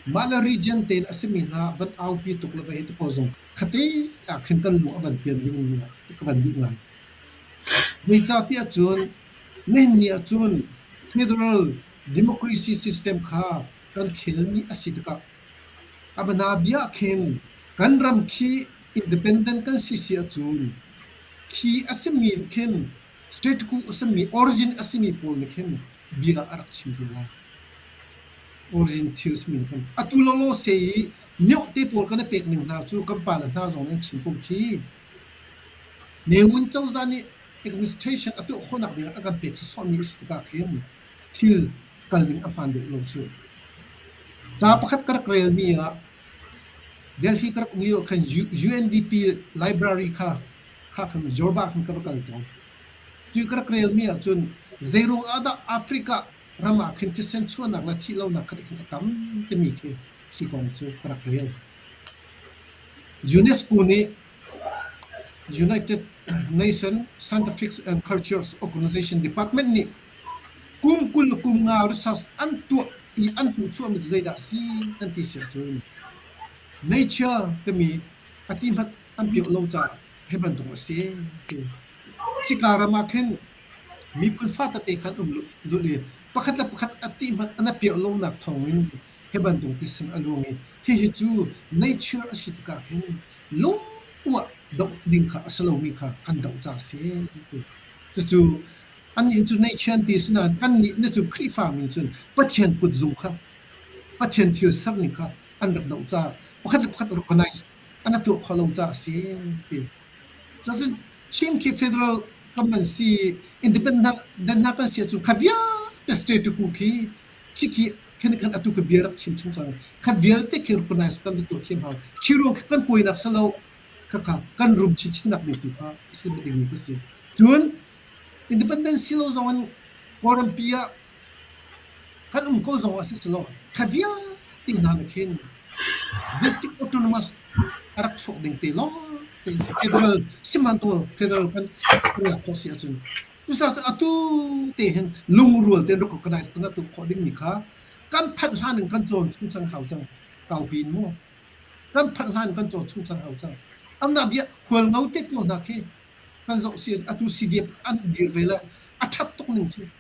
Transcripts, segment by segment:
Mah le region tein a simi hna van aupi tuk le vei tikho zong khate ah khin kan lung a van fian ding ka van ding lai. Nicati ahcun nihin ahcun federal democracy system kha kan khel ni a si tikah a bana bia khin kan ram khi independent kan si si ahcun khi a simi khin status a simi origin a simi pawl nih khin bia ah a rak chim ti lai. Orientals min kan atu lawlaw se i miohte pawl kan i pek ning hna cu kan pa le hna zong nih an chim pum khi Ne Win cozah nih administration a tuah khawhnak ding ah a kan pek cu sawhmi a si tikah khin thil kal ding a hmaan deuh lo cu. Ca pakhat ka rak relmi ah Delhi ka rak um lio khan UNDP library kha kha khan Jorba khan ka va kal tawn. Cu ka rak relmi ahcun zeiruang ahdah Africa ram ah khin thisen chuahnak le thih lonak kha tihin a tam timi khi hi kong cu ka rak rel. UNESCO nih United Nations Scientific and Cultures Organization Department nih kum kul kum nga research an tuah i an hmuhchuahmi cu zeidah a si an ti siah cun nature timi a ti hmanh an piah lo caah Hi bantuk a si ti. Hika ram ah khin miphun fa tete kha an um lulh i pakhat le pakhat a tih hmanh an a piah lonak thawngin hi bantuk tisim a luang i hihi cu nature a si tikah khin lungtuah doh ding kha a si lomi kha kan doh ca a si ti. Cucu annih cu nature an ti si nain annih na cu Khrihfa mi cun Pathian kutzung kha Pathian thil serning kha an rak doh caah pakhat le pakhat recognize an a tuah kho lo caah a si ti. So cun Chin khi federal government si independent hna kan si cu kha vialte state tu khi khi khi khan khan atu ka bia rak chin chung chang kha vialte khi recognize kan tu thiam hau khiro kan koinak salo kha kha kan rum chin chin nak mi tu kha isin ding mi ka si cun independence lo zong in Kawlrampi ah Kan um ko zong ah siselaw thla vialte hna nih khin domestic autonomous a rak chuak ding te lawngte in si. Federal, sihmanhtaw federal kan riak khawh si ahcun cucaah atu te hin lungrual tein rak organize tang atu khawh dingmi kha kan phanh hlan in kan cawn chung cang hau cang. Kaupi in mu. Kan phanh hlan in kan cawn chung cang hau cang. Amnak bia hual ngo te pawl hna khi kan zoh si atu CDF an dir ve le a ṭhat tuk ning cu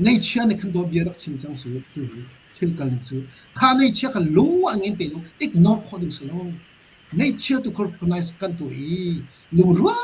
Ngeichia nih khan dawtbia rak chim cang su tu thil kal ning su. Kha ngeichia kha lu a ngin te lo ignore khawh ding si lo. Ngeichia tu recognize kan tu i lungrual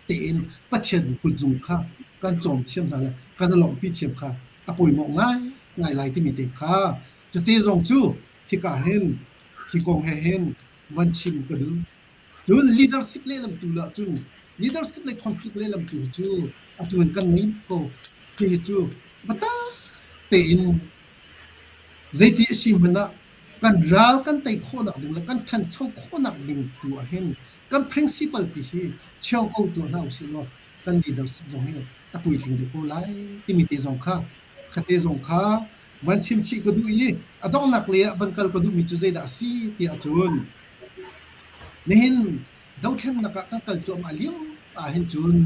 tein Pathian kutzung kha kan cawm thiam hna le kan lawmhpi thiam kha a pawimawh ngai ngai lai timi te kha cute zong cu khika hen khi kong he hen van chim ka duh Cun leadership lehlam tu lah cu leadership le conflict lehlam tu cu atu in kan ngei ko. Hihi cu biatak tein zeiti a si hmanh ah kan ral kan tei khawhnak ding le kan ṭhancho khawhnak ding tu ah hin kan principle pi hi cheu ko tuah hna usih law kan leadership zong hi a puitling deuh ko lai timi te zong kha khate zong kha van chim chih ka duh i a donghnak lei ah van kal ka duhmi cu zeidah a si tiah cun Nihin zohthlennak ah kan kal cuahmah lio ahhin cun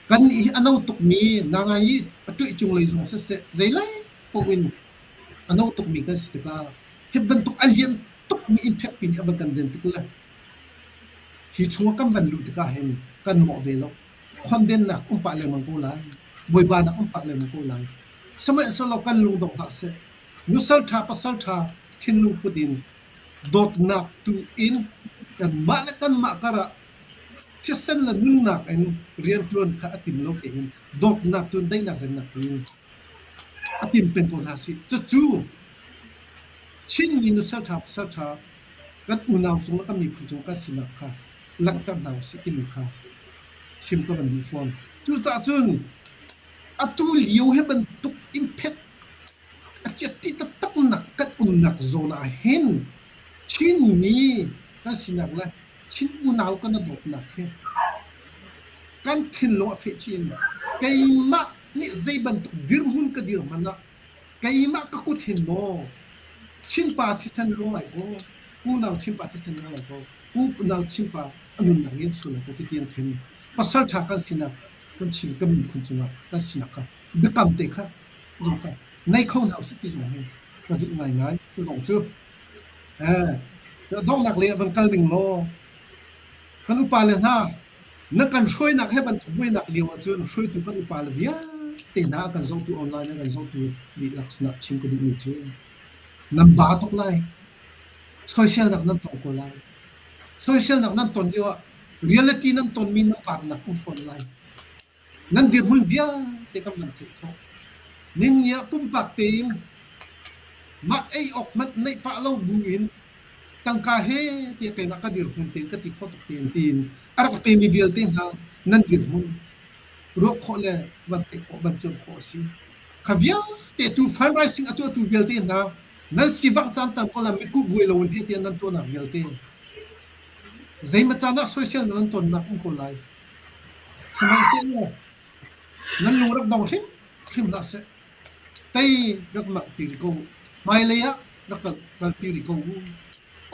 kan i a no tukmi nangai i a ṭoih cunglei zong siseh zeilai paoh in a no tukmi kan si tikah hi bantuk a lian tukmi innphekpi nih a van kan den tik le hi chungah kan van luh tikah hin kan mawh ve lo. Khondennak um pah lengmang ko lai. Bawibanak um pah lengmang ko lai. Sihmanhsehlaw kan lung dong hlah seh. Nusalṭha pasalṭha thinlung put in dawtnak tu in kanmah le kanmah karah thisen le nunnak in rianṭuan kha a tim lo tein dawtnak tu in daihnak remnak tu in a tim peng ko hna sih. Cucu Chinmi nu salṭha pasalṭha kan unau cung le kan miphun cung kan sinak kha langhter hna usih timi kha chim ka van duh fawn. Cucaah cun atu lio hi bantuk in phet A ciatti taktak nak kan umnak zawn ah hin Chinmi kan sinak le Chin unau kan i dawtnak hi kan thinlung a feh chin. Keimah nih zei bantuk dirhmun ka dir hmanh ah keimah ka kut hin maw Chinpa thisen rawl lai kaw, unau Chinpa thisen ra lai kaw, unau Chinpa a nunnak in sual lai kaw, ti ti an thim. Pasalṭha kan sinak kan chim kan miphun cungah kan sinak kha Biakam te kha zungfai nei kho hna usih ti zong hi ka duh ngaingai. Cu zong cu donghnak lei ah van kal ding law kan upale hna na kan hruainak he bantuk buainak lio ahcun hruaitu kan upale vialte hna kan zohtu online le kan zohtu dihlak sinah chim ka duhmi cu nan ba tuk lai soiselnak nan tong ko lai soiselnak nan ton lio ah reality nan tonmi nan vaarnak um fawn lai Nan dirhmun vialte kan van theih khawh. Ninni ah pumpak tein mah ei awk hmanh neih pah lo buin tangka he te pek ah ka dirhmun tein ka ti kho tuk tein tiin a rak pemi vialte hna nan dirhmun ruah khawh le van theih khawh, van cuanh khawh a si. Kha vialte tu fundraising a tuahtu vialte hna nan sivangh caan tan ko lah mitkuh buai lo in heh tiah nan tuahnak vialte zeimaw caan ah soisel nan tonnak um ko lai. Sihmanhsehlaw nan lung rak dong hrimhrim hlah seh, tei rak nalhpi rih ko u, hmailei ah rak rak kalpi rih ko u.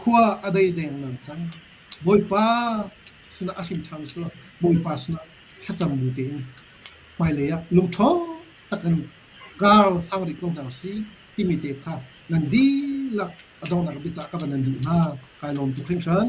Khua a dei dengmang cang. Bawipa sinah a hrim ṭhan sulaw Bawipa sinah thlacam bu tein hmailei ah lungṭha tak in ralhang rih ko hna usih timi te kha nan dihlak a donghnak biacah kha va nan duh hna, kai lawm tuk hringhran.